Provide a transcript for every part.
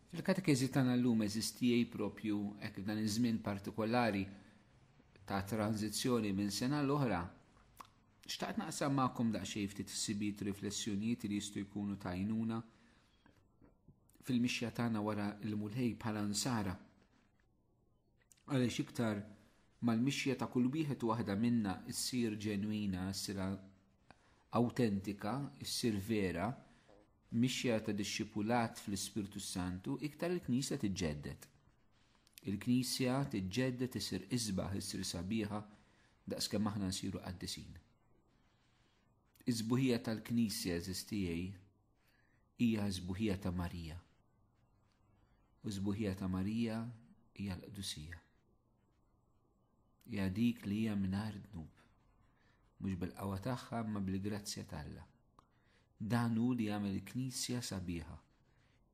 Fil-katekiżi tagħna llum eżistijie propju hekk dan iż-żmien partikolari ta' tranzizzjoni minn sena l-oħra. Xtaqt naqsam magħkom daqsxejn ftit ħsibijiet riflessjonijiet li jistgħu jkunu tajnuna fil-mixja tagħna wara l-mulħej bħala nsara. Għaliex iktar ma l-mixja ta' kull wieħed u waħda minna ssir ġenwina, ssir awtentika, ssir vera, mixja ta' dixxipulat fl-Ispirtu s-Santu, iktar il-Knisja tiġġedded. Il-Knisja tiġġedded issir isbaħ, issir sabiħa, daqskemm aħna nsiru qaddisin. Is-sbuħija tal-Knisja, eżiż tiegħi, hija s-sbuħija ta' Marija. U s-sbuħija ta' Marija hija l-qdusija. Hija dik li hija mingħajr dnub, mhux bil-qawwa tagħha imma bil-grazzja t'Alla. Dan hu li jagħmel il-Knisja sabiħa,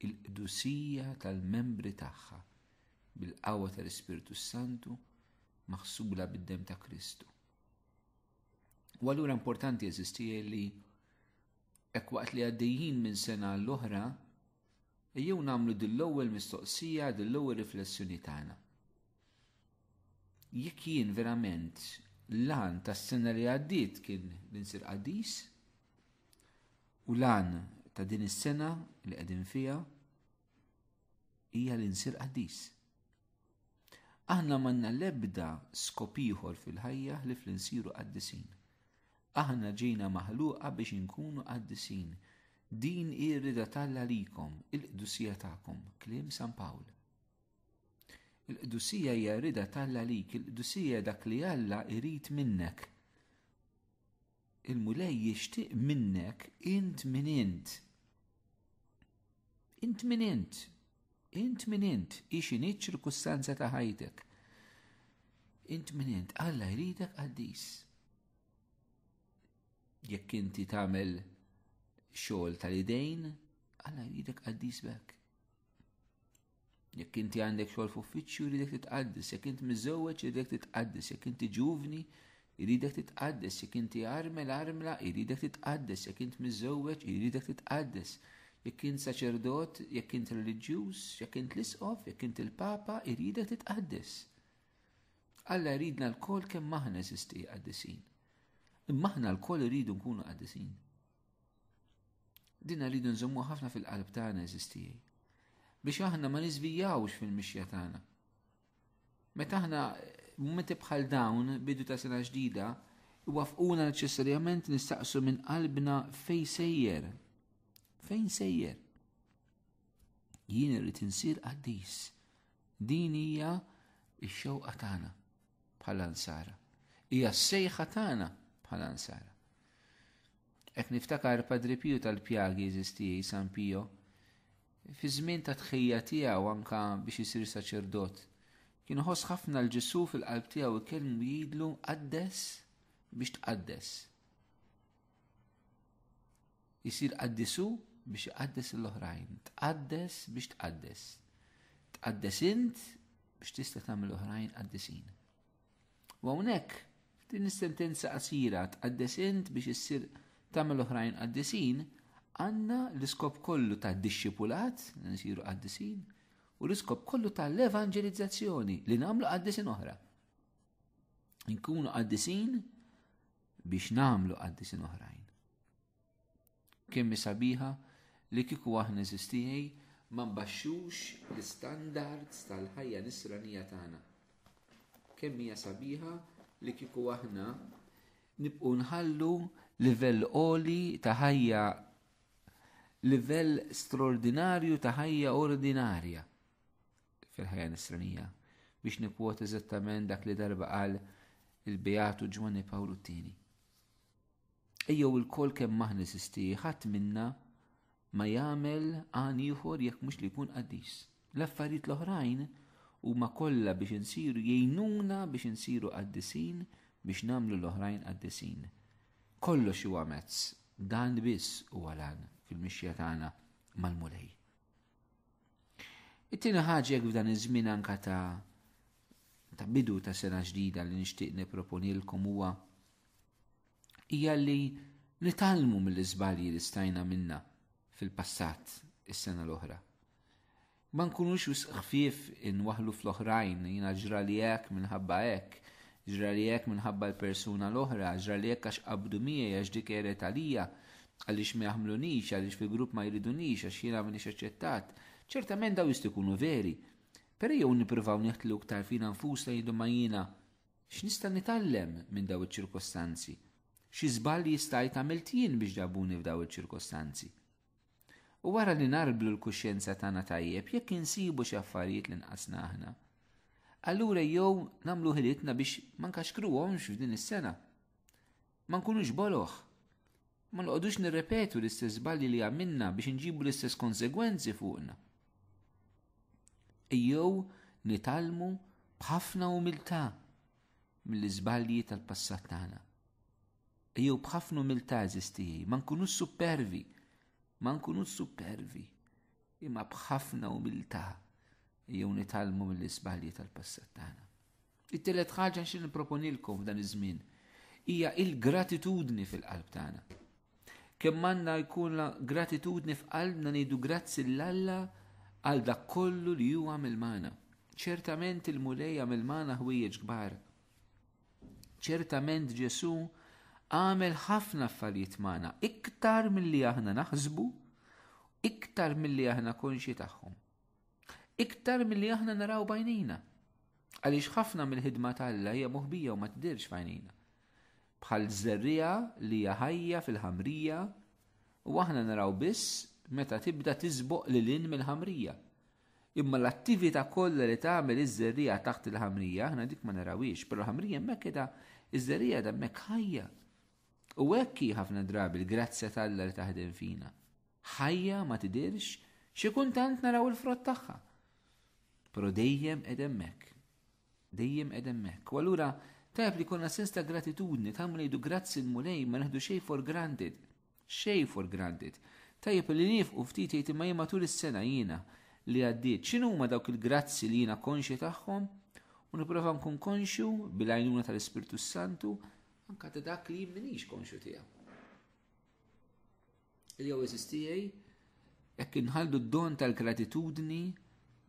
il-qdusija tal-membri tagħha bil-qawwa tal-Ispirtu Santu maħsubla bid-dem ta' Kristu. U allura importanti eżisti li hekk waqt li għaddejjin minn sena l-oħra, ejjew nagħmlu dill-ewwel mistoqsija, dill-ewwel riflessjoni tagħna. Jekk jien verament lan tas-sena li għaddiet kien li nsir qaddis, u lan ta' din is-sena li qegħdin fiha hija li nsir qaddis. Aħna m'għandna l-ebda skop ieħor fil-ħajja ħlief li nsiru qaddisin. Aħna ġejna maħluqa biex inkunu qaddisin. Din hi r-rieda t'Alla għalikom, il-qdusija tagħkom, kliem San Pawl. Il-qdusija hija r-rieda t'Alla għalik, il-qdusija dak li Alla jrid minnek. Il-Mulej jixtieq minnek int min int. Int min int. Int min int. Ix inhi ċirkustanza ta' ħajtek. Int min int. Alla jridek qaddis. Jekk inti tagħmel xogħol tal-idejn, Alla jridek qaddis bekk. Jekk inti għandek xogħol f'uffiċċju jridek titqaddes, jekk int miżewweġ jridek titqaddes, jekk inti ġuvni jridek titqaddes, jekk inti armel armla jridek titqaddes, jekk int miżewweġ jridek titqaddes, jekk int saċerdot, jekk int reliġjuż, jekk int l-isqof, jekk int il-papa jridek titqaddes. Alla jridna l-kol kemm aħna eżisti qaddisin. Imma aħna l-kol iridu nkunu qaddisin. Dinna rridu nżommu ħafna fil-qalb tagħna eżistijaj. Biex aħna ma niżvijawx fil-mixja tagħna. Meta aħna mumenti bħal dawn bidu ta' sena ġdida, wafquna neċessarjament nistaqsu minn qalbna fej sejjer. Fejn sejjer? Jien irrid insir qaddis. Din hija x-xewqa tagħna bħala nsara. Hija s-sejħa tagħna bħala nsara. Qed niftakar Padri Piju tal-Pjagi eżiż tiegħi San Pio, fi żmien ta' tħejja tiegħu anka biex isir saċerdot, kien iħoss ħafna l Ġesu fil-qalb tiegħu jkellmu jgħidlu qaddes biex tqaddes. Isir qaddisu biex iqaddes l-oħrajn, tqaddes biex tqaddes. Tqaddes int biex tista' tagħmel oħrajn qaddisin. U hawnhekk din is-sentenza qasira tqaddes int biex issir tagħmel oħrajn qaddisin, għandna l-iskop kollu ta' dixxipulat, nsiru qaddisin, u l-iskop kollu ta' l-evangelizzazzjoni li nagħmlu qaddisin oħra. Nkunu qaddisin biex nagħmlu qaddisin oħrajn. Kemm sabiħa li kieku aħna eżistijej ma nbaxxux l-istandards tal-ħajja nisranija tagħna. Kemm hija sabiħa li kieku aħna nibqgħu nħallu livell oli ta' ħajja livell straordinarju ta' ħajja ordinarja fil-ħajja nisranija biex nikwot eżattament dak li darba qal il-Beatu Ġwanni Pawlu t-Tieni. Ejjew ilkoll kemm aħna eżisti, ħadd minna ma jagħmel għan ieħor jekk mhux li jkun qaddis. L-affarijiet l-oħrajn huma kollha biex insiru jgħinuna biex insiru qaddisin biex nagħmlu l-oħrajn qaddisin. Kollox huwa mezz, dan biss huwa lan fil-mixja tagħna mal-Mulej. It-tieni ħaġa f'dan iż-żmien anka ta' ta' bidu ta' sena ġdida li nixtieq nipproponilkom huwa hija li nitalmu mill-iżbalji li stajna minna fil-passat is-sena l-oħra. Ma nkunux wisq ħfief inwaħlu fl-oħrajn, jina ġra li hekk minħabba hekk, ġra li hekk minħabba l-persuna l-oħra, ġra li hekk għax qabdu miegħi għax dik eret għalija, għaliex ma jaħmlunix, għaliex fil-grupp ma jridunix, għax jiena minix aċċettat. Ċertament daw jistikunu veri, Pero jew niprivaw neħtlu ktar fina nfusna jidu ma jina X'nista' nitgħallem minn dawn iċ-ċirkostanzi? Xi żball li jistgħid għamilt jien biex ġabuni f'dawn il-ċirkostanzi? U wara li narblu l-kuxjenza tagħna tajjeb jekk insibu xi affarijiet li nqasna aħna. Allura jew nagħmlu ħilitna biex ma nkaxkruhomx f'din is-sena. Ma nkunux boloh. Ma noqogħdux nirrepetu l-istess żbalji li għamilna biex inġibu l-istess konsegwenzi fuqna. Ejjew nitalmu b'ħafna umiltà mill-iżbalji tal-passat tagħna. Ejjew b'ħafna umiltà eżistijaj, ma nkunux supervi, ma nkunux supervi, imma b'ħafna umiltà ejjew nitalmu mill-iżbalji tal-passat tagħna. It-tielet ħaġa xi nipproponilkom f'dan iż-żmien hija il-gratitudni fil-qalb tagħna. Kemm għandna jkun gratitudni f'qalbna ngħidu grazzi l-Alla għal dak kollu li huwa għamil magħna. Ċertament il-Mulej għamil magħna ħwejjeġ kbar. Ċertament Ġesu għamel ħafna affarijiet magħna iktar milli aħna naħsbu, iktar milli aħna konxi tagħhom. Iktar milli aħna naraw bajnina. Għaliex ħafna mill-ħidma ta' Alla hija moħbija u ma tidhirx f'għajnejna. Bħal żerriegħa li hija ħajja fil-ħamrija u aħna naraw biss meta tibda tiżboq lil hinn mill-ħamrija. Imma l-attività kollha li tagħmel iż-żerriegħa taħt il-ħamrija, aħna dik ma narawiex, però l-ħamrija hemmhekk qiegħda iż-żerriegħa hemmhekk ħajja. U hekk hi ħafna drabi l-grazzja tal-Alla li taħdem fina. Ħajja ma tidhirx, xi kuntant naraw il-frott tagħha. Però dejjem qed hemmhekk. Dejjem qed hemmhekk. U allura tajb li konna sens ta' gratitudni, tajb ngħidu grazzi l-Mulej ma neħdu xejn for granted. Xejn for granted. Tajjeb li nifqu ftit jgħid imma jien matul is-sena jiena li għaddiet x'inhuma dawk il-grazzi li jiena konxi tagħhom u nipprova nkun konxju bil-għajnuna tal-Ispirtu Santu anka ta' dak li jien minix konxju tiegħu. Il-OSSTA jekk inħaldu d-don tal-gratitudni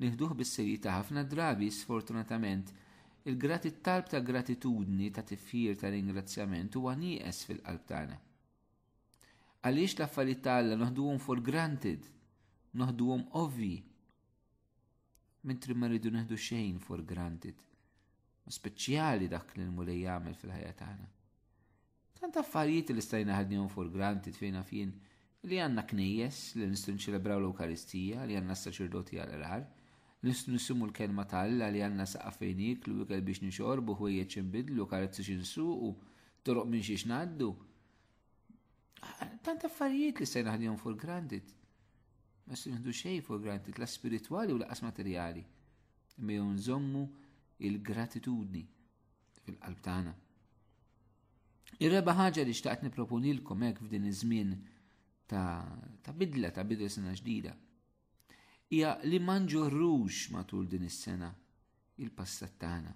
nieħduh bis-serjetà ħafna drabi sfortunatament il-grat it-talb ta' gratitudni ta' tifħir ta' ringrazzjament huwa nieqes fil-qalb tagħna. Għaliex l-affarijiet ta' Alla noħduhom for granted, noħduhom ovvi, mentri ma rridu neħdu xejn for granted, speċjali dak li l-mulej jagħmel fil-ħajja tagħna. Tant affarijiet li stajna ħadnihom for granted fejn naf jien li għandna knejjes, li nistgħu niċċelebraw l-Ewkaristija, li għandna s-saċerdoti għall-qrar, li nistgħu nisimgħu l-kelma ta' Alla, li għandna saqaf fejn nieklu, ikel biex nixorbu, ħwejjeġ xi nbiddlu, karozzi xi nsuqu, toroq minn xiex ngħaddu. Tant affarijiet li stajna ħadnihom for granted. Ma se nieħdu xejn for granted, la spiritwali u laqas materjali. Imma jew nżommu il-gratitudni fil-qalb tagħna. Ir-reba ħaġa li xtaqt niproponilkom hekk f'din iż-żmien ta' bidla ta' bidla sena ġdida. Hija li ma nġorrux matul din is-sena il-passat tagħna.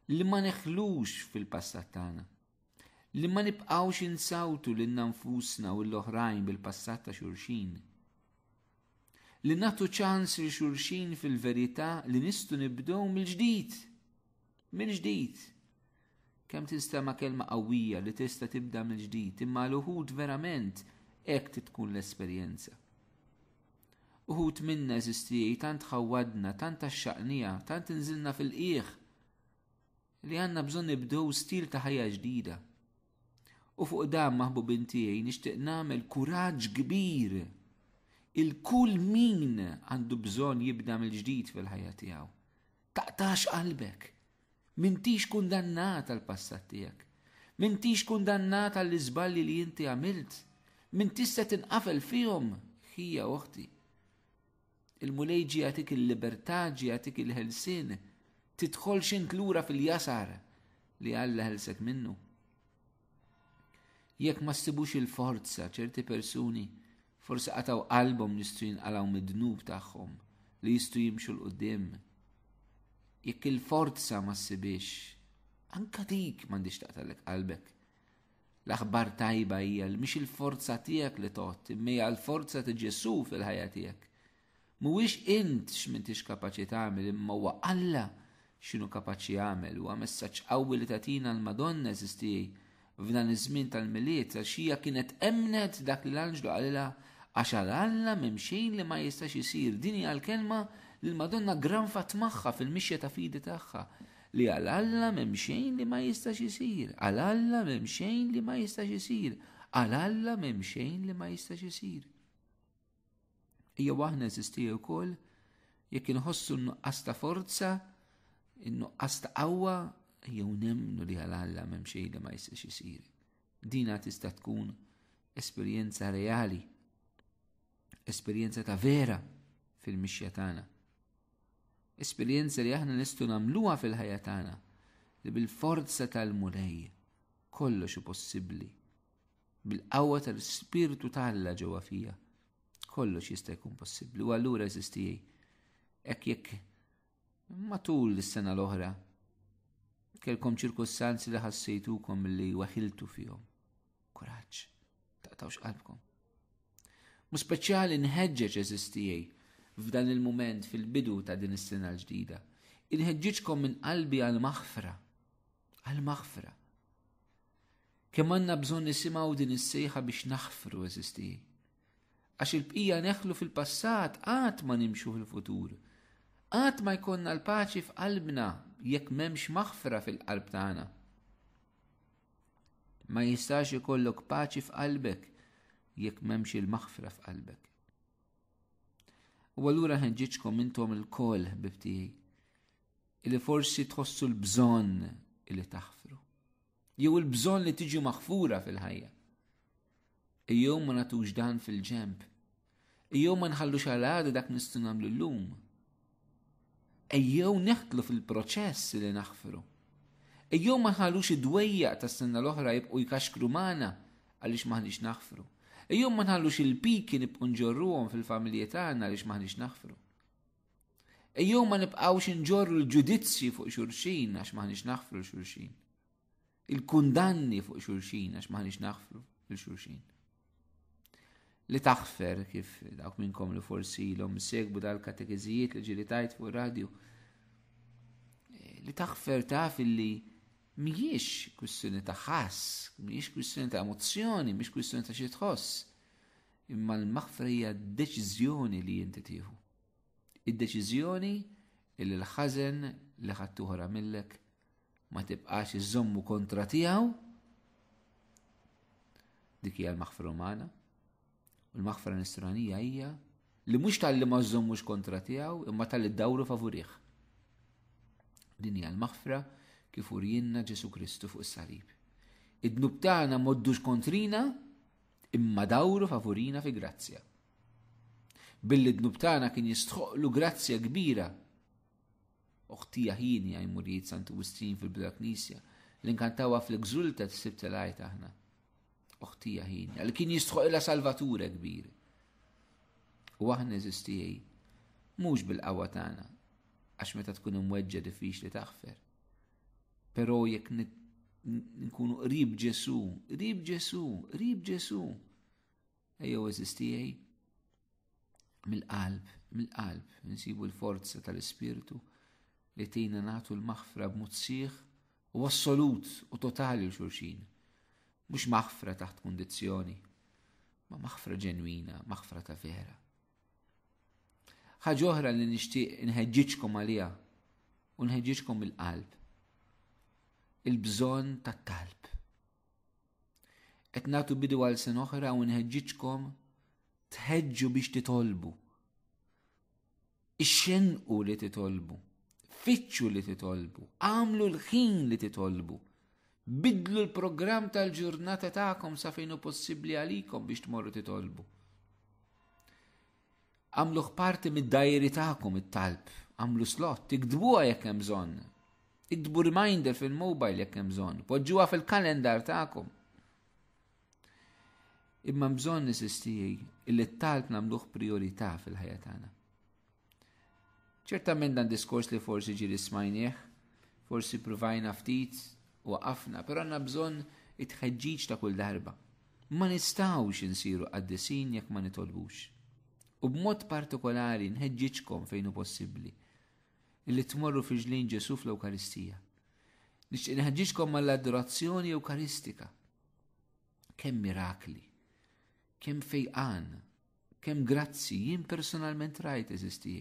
Li ma neħlux fil-passat tagħna. Li ma nibqgħux insawtu lil nfusna u l-oħrajn bil-passat ta' xulxin. Li nagħtu ċans lil xulxin fil-verità li nistgħu nibdew mill-ġdid. Mill-ġdid. Kemm tinstema' kelma qawwija li tista' tibda mill-ġdid, imma l uħud verament hekk tkun l-esperjenza. Uħut minna eżistijaj tant ħawadna, tant axxaqnija, tant inżilna fil-qiegħ. li għandna bżonn nibdew stil ta' ħajja ġdida. U fuq dan maħbubin tiegħi nixtieq nagħmel kuraġġ kbir. Il-kull min għandu bżonn jibda mill-ġdid fil-ħajja tiegħu. Taqtax qalbek. Mintix kundannat għal passat tiegħek. Mintix kundannat għall iżballi li inti għamilt. Mintix se tinqafel fihom, ħija oħti. Il-Mulej ġie jagħtik il-libertà, ġie jagħtik il-ħelsien, tidħolx int lura fil-jasar li Alla ħelsek minnu. Jekk ma ssibux il-forza ċerti persuni forsi qataw qalbhom jistgħu jinqalgħu mid-dnub tagħhom li jistgħu jimxu l-qudiem. Jekk il-forza ma ssibix, anka dik m'għandix taqtalek qalbek. L-aħbar tajba hija li mhix il-forza tiegħek li tgħodd, imma hija l-forza ta' Ġesù fil-ħajja tiegħek. Mhuwiex int x'mintix kapaċi tagħmel imma huwa Alla x'inhu kapaċi jagħmel huwa messaġġ qawwi li tagħtina l-Madonna eżistijej f'dan iż-żmien tal-miliet għax hija kienet emnet dak li l-anġlu qalilha għax għal Alla m'hemm xejn li ma jistax isir din hija l-kelma li l-Madonna granfat magħha fil-mixja ta' fidi tagħha Li għal Alla m'hemm xejn li ma jistax isir, għal Alla m'hemm xejn li ma jistax isir, għal Alla m'hemm xejn li ma jistax isir. Ija waħna eżisti wkoll jekk inħossu n-nuqqas ta' forza, n-nuqqas ta' qawwa, jew nemnu li għal Alla m'hemm xejn li ma jistax isir. Dina tista' tkun esperjenza reali Esperjenza ta' vera fil-mixja tagħna. Esperjenza li aħna nistgħu nagħmluha fil-ħajja tagħna li bil-forza tal-Mulej kollox possibbli. Bil-qawwa tal-Spirtu tal-Alla ġewwa fija kollox jista' jkun possibbli. U allura eżistijej, hekk jekk Matul is-sena l-oħra, kelkom ċirkustanzi li ħassejtukom li weħiltu fihom. Kuraġġ, taqtawx qalbkom. Mu speċjali nħeġġeġ eżistijaj f'dan il-moment fil-bidu ta' din is-sena l-ġdida. Inħeġġiġkom minn qalbi għal-maħfra. Għal-maħfra. Kemm għandna bżonn nisimgħu din is-sejħa biex naħfru eżistijaj. Għax il-bqija neħlu fil-passat qatt ma nimxu fil-futur. Qatt ma jkollna l-paċi f'qalbna jekk m'hemmx maħfra fil-qalb tagħna. Ma jistax ikollok paċi f'qalbek jekk m'hemmx il-maħfra f'qalbek. U allura ħenġiġkom intom il-kol bibtijaj, illi forsi tħossu l-bżonn illi taħfru. Jew il-bżonn li tiġi maħfura fil-ħajja. Ejjew ma natux dan fil-ġemp. Ejjew ma nħallux għal għada dak nistgħu nagħmlu llum. Ejjew neħtlu fil-proċess li naħfru. Ejjew ma nħallux id-dwejja tas-sena l-oħra jibqgħu jkaxkru magħna għaliex maħniex naħfru. Ejjew ma nħallux il-piki nibqgħu nġorruhom fil-familji tagħna għaliex maħniex naħfru. Ejjew ma nibqgħux nġorru l-ġudizzji fuq xulxin għax maħniex naħfru xulxin. il-kundanni fuq xulxin għax maħniex naħfru lil xulxin. Li taħfer kif dawk minnkom li forsi l-om segbu dal-katekizijiet li ġili tajt fuq radju. Eh, li taħfer taf illi mhijiex kwistjoni ta' ħass, mhijiex kwistjoni ta' emozzjoni, mhijiex kwistjoni ta' xi tħoss. Imma l-maħfra hija deċiżjoni li inti tieħu. Id-deċiżjoni li l-ħażen li ħadd oħra millek Ma tibqax iżommu kontra tiegħu dik hija l-maħfra umana. U l-maħfra nisranija hija li mhux tal-li ma żommux kontra tiegħu imma tal-li dawru favurih. Din hija l-maħfra kif urjinna Ġesu Kristu fuq is-salib. Id-dnub tagħna moddux kontrina imma dawru favurina fi grazzja. Billi d-dnub tagħna kien jistħoqlu grazzja kbira Oħti Jaħjini għaj murijiet Santu Wistrin fil-Bira Knisja, li nkantawa fl-Exultet s-Sibt tal-Għajt aħna. Oħti Jaħjini, li kien jistħoqilha Salvature kbir. U aħna eżistijaj, mhux bil-qawwa tagħna, għax meta tkun imweġġa diffiċli taħfer. Però jekk nkunu qrib Ġesu, qrib Ġesu, qrib Ġesu, Ejjew eżistijaj mill-qalb, mill-qalb, nsibu l-forza tal-ispirtu li tina natu l-maħfra b'mod sieħ u assolut u totali u xurxin. Mux maħfra taħt kondizjoni, ma maħfra ġenwina, maħfra ta' vera. Ħaġa oħra li nixtieq inħeġġiġkom għaliha u nħeġġiġkom il-qalb. Il-bżonn tat-talb. Qed nagħtu bidu għal sen oħra u nħeġġiġkom tħeġġu biex titolbu. Ixxenqu li titolbu. Fittxu li titolbu. Għamlu l-ħin li titolbu. Bidlu l-programm tal-ġurnata tagħkom sa fejn hu possibbli għalikom biex tmorru titolbu. Għamluh parti mid-dajeri tagħkom it-talb, għamlu slot, iktbuha jekk hemm bżonn. Iktbu reminder fil-mobile jekk hemm bżonn, poġġuha fil-kalendar tagħkom. Imma bżonn nisistijaj illi t-talb nagħmluh priorità fil-ħajja tagħna. Ċertament dan diskors li forsi ġiri smajnieh, forsi provajna ftit u waqafna, però għandna bżonn it-tħeġġiġ ta' kull darba. Ma nistgħux insiru qaddisin jekk ma nitolbux. U b'mod partikolari nħeġġiġkom fejn hu possibbli li tmorru fi ġlin Ġesu fl-Ewkaristija. Nixtieq nħeġġiġkom mal-adorazzjoni Ewkaristika. Kemm mirakli, kemm fejqan Kemm grazzi jien personalment rajt eżisti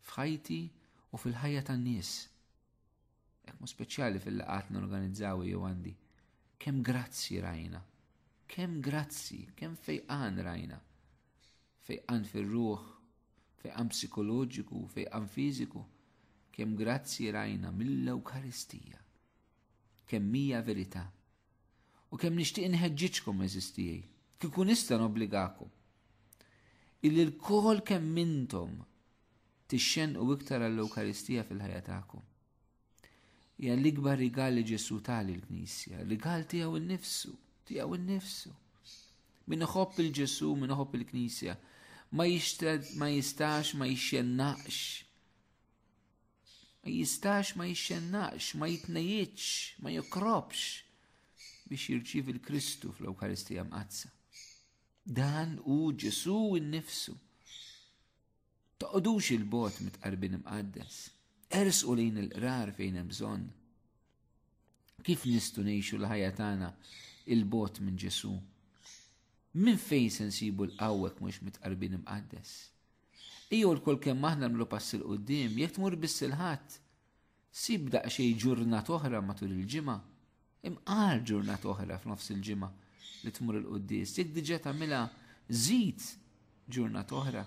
f'ħajti u fil-ħajja tan-nies. Hekk mu speċjali fil-laqat norganizzaw jew għandi. Kemm grazzi rajna. Kemm grazzi, kemm fejqan rajna. Fejqan fir-ruħ, fejqan psikoloġiku, fejqan fiżiku. Kemm grazzi rajna mill-Ewkaristija. Kemm hija verità. U kemm nixtieq inħeġġiġkom eżis tiegħi, kieku nista' nobbligakom. Illi l-kol kemm intom tixxenqu iktar għall-Ewkaristija fil-ħajja tagħkom. Hija l-ikbar rigal li Ġesu tali l-Knisja, rigal tiegħu nnifsu, tiegħu nnifsu. Min iħobb il-Ġesu, min iħobb il-Knisja, ma jistax ma jixxennaqx Ma jistax ma jixxennax, ma jitnejitx, ma jokrobx biex jirċivi l-Kristu fl-Ewkaristija mqazza. Dan u Ġesu innifsu. Toqodux il-bot mit-qarbin imqaddes. Ersqu lejn il-qrar fejn hemm bżonn. Kif nistu ngħixu l-ħajja tagħna il-bot minn Ġesu? Minn fejn se nsibu l-qawwek mhux mit-qarbin imqaddes? Ijur kull kemm aħna nagħmlu pass 'il quddiem, jekk tmur biss il-Ħadd, sib daqsxejn ġurnat oħra matul il-ġimgħa, imqar ġurnat oħra f'nofs il-ġimgħa li tmur il-quddies, jekk diġà tagħmilha żid ġurnat oħra.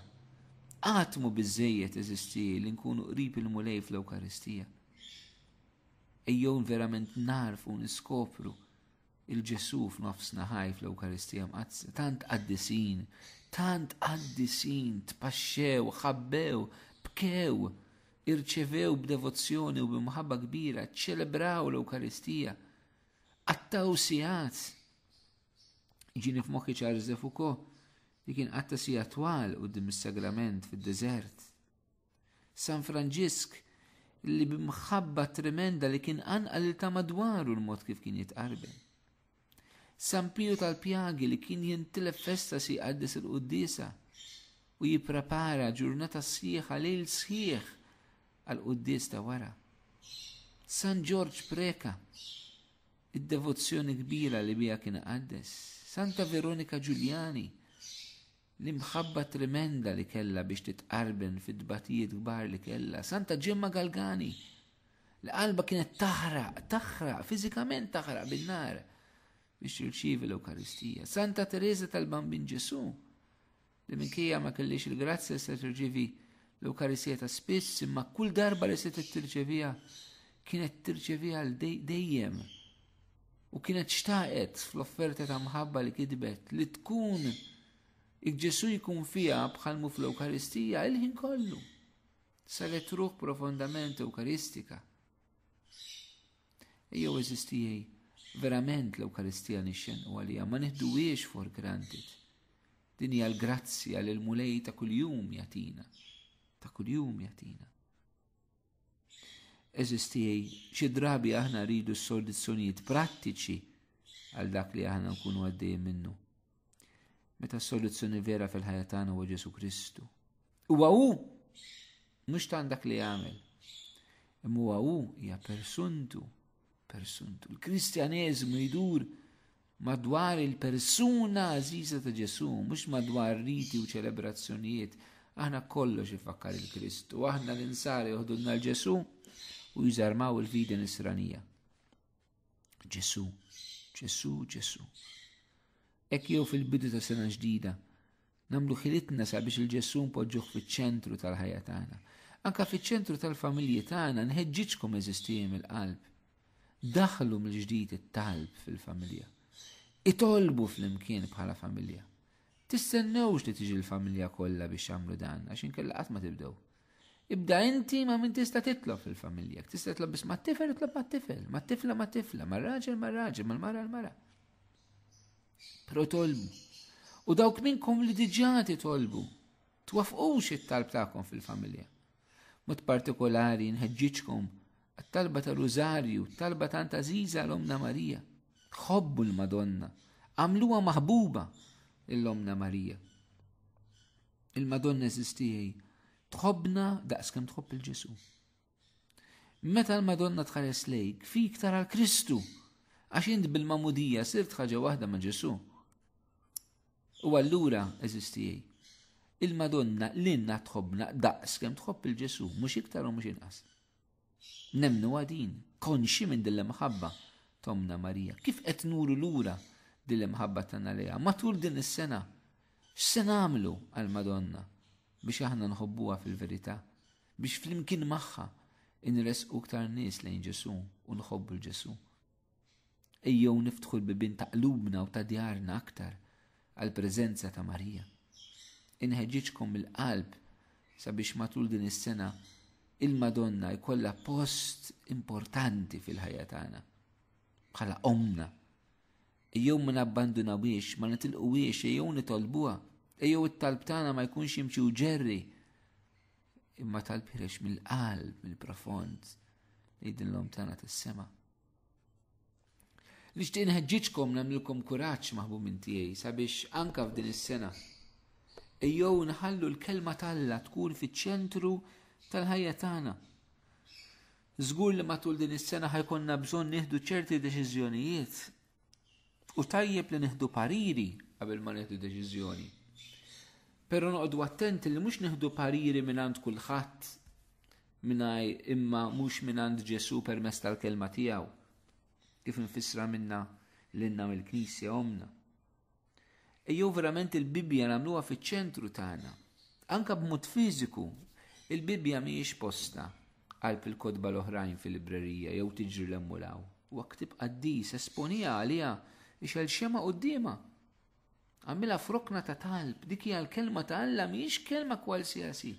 Qatt mu biżejjed eżisti li nkunu qrib il-Mulej fl-Ewkaristija. Ejjew verament narfu niskopru il-Ġesu f'nofs naħaj fl-Ewkaristija Mqaddsa, tant qaddisin, tant qaddisin, tpaxxew, ħabbew, bkew, irċevew b'devozzjoni u b'imħabba kbira, ċelebraw l-Ewkaristija, qattaw sigħat. Ġini f'moħħi ċarżef ukoll li kien qatta sija twal u dim is-sagrament fid-deżert. San Franġisk li b'mħabba tremenda li kien anqal il ta' madwaru l-mod kif kien jitqarben. San Piju tal-Pjagi li kien jintilef festa si jqaddes il-Quddisa u jipprepara ġurnata sħiħa lejl sħiħ għal quddis ta' wara. San Ġorġ Preka, id-devozzjoni kbira li bija kien għaddes. Santa Veronika Ġuljani, L-imħabba tremenda li kellha biex titqarben fit-tbatijiet kbar li kellha, Santa Ġemma Galgani, li qalba kienet taħraq, taħraq, fiżikament taħraq bin-nar biex tirċievi l-Ewkaristija. Santa Teresa tal-Bambin Ġesu, li minkejja ma kellix il-grazzja se tirċievi l-Ewkaristija ta' spiss, imma kull darba li se tirċevija kienet tirċevija dejjem U kienet xtaqet fl-offerta ta' mħabba li kitbet li tkun Ġesu jkun fija bħalmu fl-Ewkaristija il-ħin kollu. Saret ruħ profondament Ewkaristika. Ejjew eżistijaj verament l-Ewkaristija nixxen u għalija ma nieħduwiex for granted. Din hija l-grazzja li l-mulej ta' kuljum jatina. Ta' kuljum jatina. Eżistijaj, xi drabi aħna rridu s-soluzzjonijiet prattiċi għal dak li aħna nkunu għaddej minnu. Meta s-soluzzjoni vera fil-ħajja tagħna huwa Ġesu Kristu. Huwa hu mhux tan dak li jagħmel. Imma huwa hu hija persuntu, persuntu. Il-Kristjaneżmu jdur madwar il-persuna għażiża ta' Ġesù, mhux madwar riti u ċelebrazzjonijiet. Aħna kollox ifakkar il-Krist u aħna l-insari joħdulna l-Ġesù u jżarmaw il-fidi nisranija. Ġesù, Ġesù, Ġesù. Ek jew fil-bidu ta' sena ġdida, Nagħmlu ħilitna sabiex il-Ġesù npoġġuh fiċ-ċentru tal-ħajja tagħna. Anka fiċ-ċentru tal-familji tagħna nħeġġiġkom eżistijie mill-qalb. Daħlu mill-ġdid it-talb fil-familja. Itolbu fl-imkien bħala familja. Tistennewx li tiġi l-familja kollha biex jagħmlu dan għax inkella qatt ma tibdew. Ibda inti ma min tista' titlob fil-familja, tista' titlob biss ma' tifel, titlob ma' tifel, ma' tifla, ma' tifla, ma' raġel, ma' raġel, ma' mara, l-mara. Protolbu. U dawk minnkom li diġà titolbu, twafqux it-talb tagħkom fil-familja. Mod partikolari nħeġġiġkom għat-talba ta' Rużarju, talba ta' Antaziza l-Omna Marija. Ħobbu l-Madonna, għamluha maħbuba l-Omna Marija. Il-Madonna eżistijaj, tħobna daqs kemm tħobb il-Ġesu. Meta l-Madonna tħares lejk, fi iktar għal Kristu, għax int bil-mamudija sirt ħaġa waħda ma' Ġesu. U allura, eżistijaj, il-Madonna l-inna tħobna daqs kem tħobb il-Ġesu, mux iktar u mux inqas. Nemnu għadin, konxi minn dille maħabba tomna Marija. Kif qed nuru lura dille maħabba tanna leja? Matul din is-sena, x'se nagħmlu għal-Madonna biex aħna nħobbuha fil-verità? biex flimkien magħha inresqu iktar nies lejn Ġesu u nħobbu l-Ġesu. Ejjew niftħu l-bibin ta' qlubna u ta' djarna aktar għal preżenza ta' Marija. Inħeġġiġkom il-qalb sabiex matul din is-sena il-Madonna jkollha post importanti fil-ħajja tagħna bħala omna. Ejjew ma nabbandunawiex, ma nitilquwiex, ejjew nitolbuha. Ejjew it-talb tagħna ma jkunx imċi u ġerri Imma tal-pirex mill-qalb, mill-profond, li dillom tana tas-sema. Nixtieq nħeġġiġkom nagħmlilkom kuraġġ maħbu minn tiegħi sabiex anka f'din is-sena. Ejjew nħallu l-kelma t'Alla tkun fiċ-ċentru tal-ħajja tagħna. Żgur li matul din is-sena ħajkonna bżonn nieħdu ċerti deċiżjonijiet U tajjeb li nieħdu pariri qabel ma nieħdu deċiżjoni. Però noqogħdu attenti li mhux nieħdu pariri mingħand kulħadd mingħaj imma mhux mingħand Ġesu permezz tal-kelma tiegħu. Kif infissra minna l-inna mill-Knisja omna. Ejjew verament il-Bibbja nagħmluha fiċ-ċentru tagħna. Anka b'mod fiżiku, il-Bibbja mhijiex posta qalb il-kotba l-oħrajn fil-librerija jew tiġri l-emmulaw. U ktib qaddis esponija għaliha ixel xema quddiema. Għamilha frokna ta' talb, dik hija l-kelma ta' Alla mhijiex kelma kwalsiasi.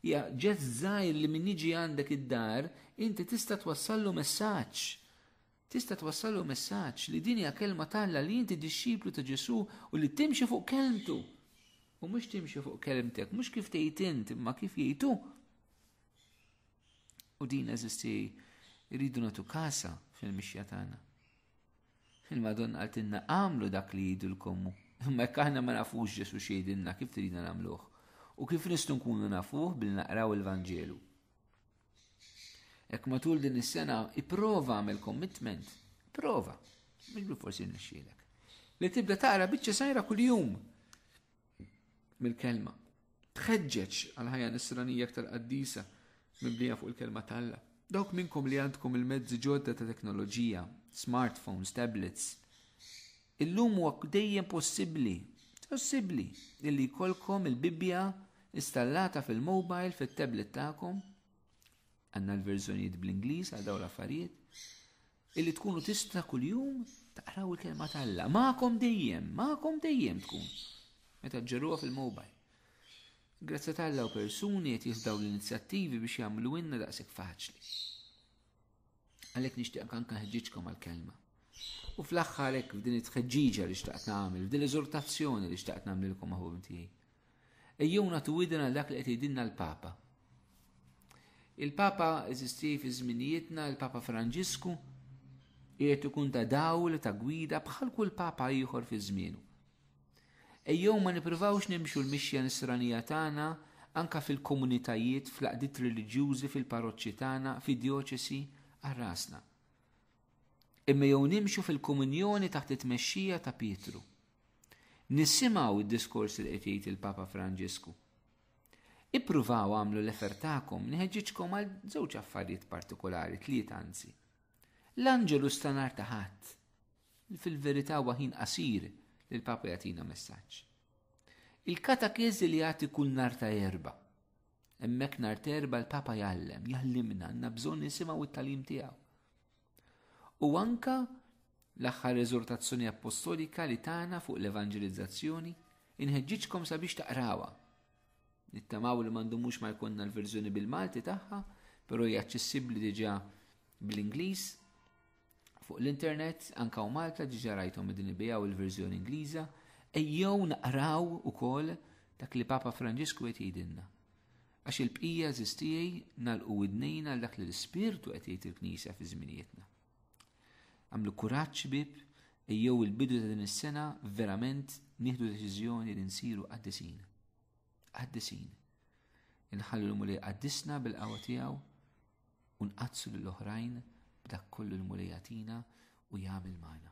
Hija ġest żgħir li min jiġi għandek id-dar, inti tista' twassallu messaġġ. Tista' twassallu messaġġ li din hija kelma t'Alla, li inti dixxiplu ta' Ġesù u li timxi fuq kelmtu. U mhux timxi fuq kelmtek, mhux kif tgħid int, imma kif jgħid hu. U din eżisti rridu nagħtu kasa fil-mixja tagħna. Il-Madonna għaltinna għamlu dak li jgħidu l-kommu. Imma jekk aħna ma nafux Ġesu xejdinna kif tridna nagħmluh. U kif nistgħu nkunu nafuh bil naqraw il-Vanġelu. Ek matul din is-sena ipprova għamel commitment, prova, minn forsi nixxielek. Li tibda tara biċċa sajra kuljum mill-kelma. Tħeġġeġ għal ħajja nisranija aktar qaddisa mibnija fuq il-kelma talla. Dawk minnkom li għandkom il-mezzi ġodda ta' teknoloġija, smartphones, tablets, Illum huwa dejjem possibbli, possibbli, illi jkollkom il-Bibbja installata fil-mobile, fit-tablet tagħkom, għandna l-verżjonijiet bl-Ingliż għal dawn l-affarijiet, illi tkunu tista' kuljum taqraw il-kelma tal-la. Ma'kom dejjem, ma'kom dejjem tkun. Meta ġġeruha fil-mobile. Grazzi tal-la u persuni qed jihdaw l-inizjattivi biex jagħmlu inna daqshekk faċli. Għalhekk nixtieq anke nħeġġiġkom għall-kelma. U fl-aħħar hekk f'din it-tħeġġiġa li xtaqt nagħmel, f'din l-eżortazzjoni li xtaqt nagħmlilkom maħbub tiegħi. Ejjuna tu widna dak li qed jgħidilna l-Papa. Il-Papa eżisti fi żminijietna, il-Papa Franġisku, qiegħed ikun ta' dawl ta' gwida bħal kull Papa ieħor fi żmienu. Ejjew ma nippruvawx nimxu l-mixja nisranija tagħna anke fil-komunitajiet, fl-għaqdiet reliġjużi, fil-paroċċi tagħna, fid-djoċesi, għal rasna. Imma ejjew nimxu fil-komunjoni taħt it-tmexxija ta' Pietru. Nisimgħu d-diskors li qed jgħid il-Papa Franġisku. Ippruvaw għamlu l-efer tagħkom nħeġġiġkom għal żewġ affarijiet partikolari, tliet anzi. L-anġelu stanar ta' ħadd. Fil-verità huwa ħin qasir li l-Papa jagħtina messaġġ. Il-katakeżi li jagħti kull nhar ta' erba. Hemmhekk nhar terba l-Papa jgħallem, jgħallimna għandna bżonn nisimgħu t-talim tiegħu. U anka l-aħħar eżortazzjoni appostolika li tagħna fuq l-evanġelizzazzjoni inħeġġiġkom sabiex taqrawha. Nittamaw li mandu mhux ma jkollna l-verżjoni bil-Malti tagħha, però hija aċċessibbli diġà bl-Ingliż Fuq l-internet, anke hawn Malta diġà rajthom qegħdin ibigħu il-verżjoni Ingliża, ejjew naqraw ukoll dak li Papa Franġisku qed jgħidilna. Għax il-bqija żistijaj nalqu widnejn għal dak li l-Ispirtu qed jgħid il-Knisja fi żminijietna. Għamlu kuraġġ bib, ejjew il-bidu ta' din is-sena verament nieħdu deċiżjoni li nsiru qaddisin. Qaddisin. Inħallu l-Mulej qaddisna bil-qawwa tiegħu u nqaddsu lil oħrajn b'dak kollu l-Mulej jagħtina u jagħmel magħna.